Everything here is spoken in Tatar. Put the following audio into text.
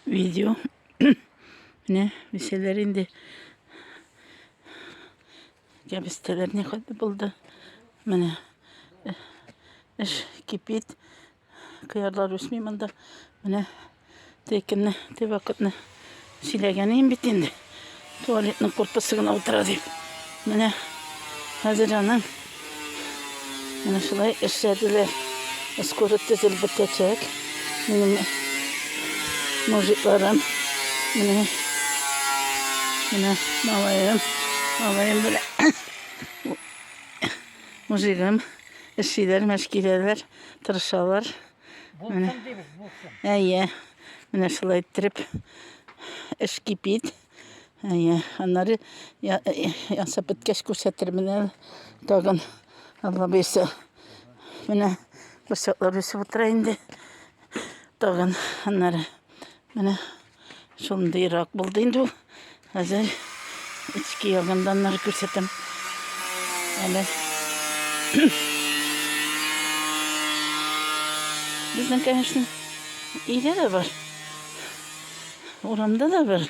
Видео. Менә бисәләр инде кәбестәләр не хәтле булды. Менә эш кипит. Кыярлар үсми монда. Менә текенне, те вакытны Сөйләгән идем бит инде. Туалетның корпусы гына утыра дип. Менә хәзер аның менә шулай эшләделәр. Скоро төзелеп бетәчәк. Минем мужикларым. Менә менә малаем. Малаем белән мужигым эшлиләр, мәшкиләләр, тырышалар. Булсын дибез, булсын. Әйе. Менә шулай иттереп эш кипит. Әйе. Аннары ясап беткәч күрсәтермен әле. Тагын Алла бирсә. Менә курчаклар үсеп утыра инде. Тагын аннары менә Шундыйрак булды инде ул. Хәзер эчке ягыннан нары күрсәтәм. Әле. Безнең, конечно, өйдә дә бар. Урамда да бар.